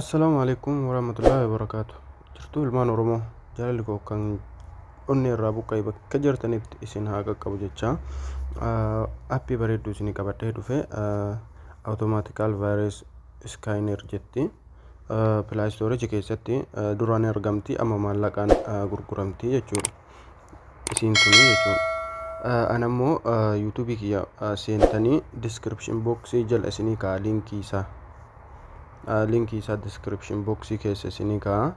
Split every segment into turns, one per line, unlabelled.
Assalaamu alaikum warahmatullahi wabarakatuh. Jirtuu ilmaan Oromoo jaalalli koo kan onnee irraa buqqa'e bakka jirtanitti isin haa qaqqabu jecha appii bareedduu isinii qabadhee dhufe automatical virus scanner jetti. Play storage keessatti duraan argamti amma maallaqaan gurguramti jechuudha. isiin tuni jechuudha ana immoo yuutuubii kiyya seentanii diskiripshin booksii jala isinii ka'a liinkii isaa liinkii isaa diskiripshin booksii keessa isinii ka'a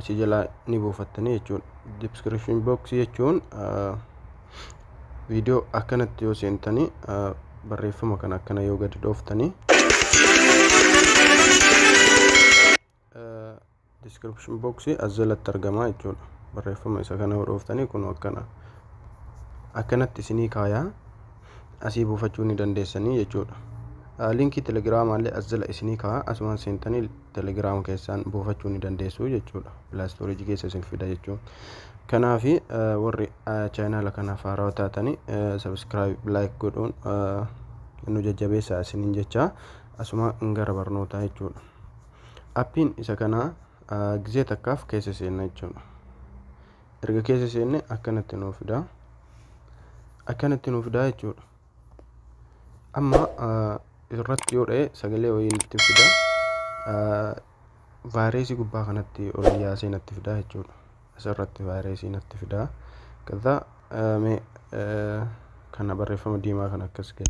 achi jala ni buufattanii jechuudha diskiripshin booksii jechuun viidiyoo akkanatti yoo seentanii barreeffama kana akkana yoo gadi dhooftanii description box as jalatti argamaa jechuudha barreeffama isa kana hodhooftanii kun akkana akkanatti isinii kaayaa asii buufachuu ni dandeessanii jechuudha linkii telegiraamaa illee as jala isinii kaayaa asumaan seentanii telegiraama keessaan buufachuu ni dandeessuu jechuudha pilaastooriji keessa isin fida jechuun kanaaf warri chaayinaala kanaaf haarawaa taatanii sabiskiraayib laayik godhuun nu jajjabeessaa isiniin jechaa asuma gara barnootaa jechuudha Appiin isa kana gizee takkaaf keessa seenna jechuudha. Erga keessa seenne akkanatti nuu fida. Akkanatti nuu fida jechuudha. Amma irratti yoo dha'e sagalee wayii nutti fida. Vaayireesii gubbaa kanatti ol yaasee natti fida jechuudha. Asirratti vaayireesii natti fida. Kaza kana barreeffama diimaa kan akkas gadi.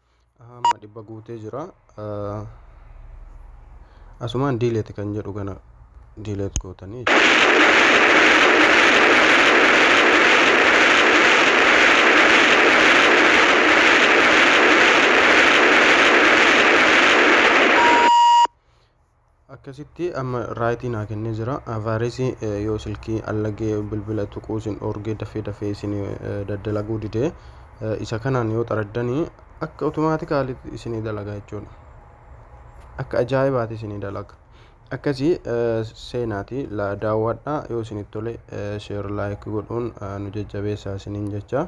Aha, amma dhibba guutee jira. Ah, Asumaan diileeti kan jedhu kana diileet gootanii. Akkasitti amma raayitii naa kennee jira. Vaayiresii yoo silkii allagee bilbila tuquu isin dhoorgee dafee dafee isin daddalaguu didee isa kanaan yoo xaraddanii akka otomaatikaalitti isinii dalaga jechuudha. Akka ajaa'ibaati isinii dalaga. Akkasii seenaati daawwadhaa yoo isinitti tole sheer laayik godhuun nu jajjabeessaa isiniin jecha.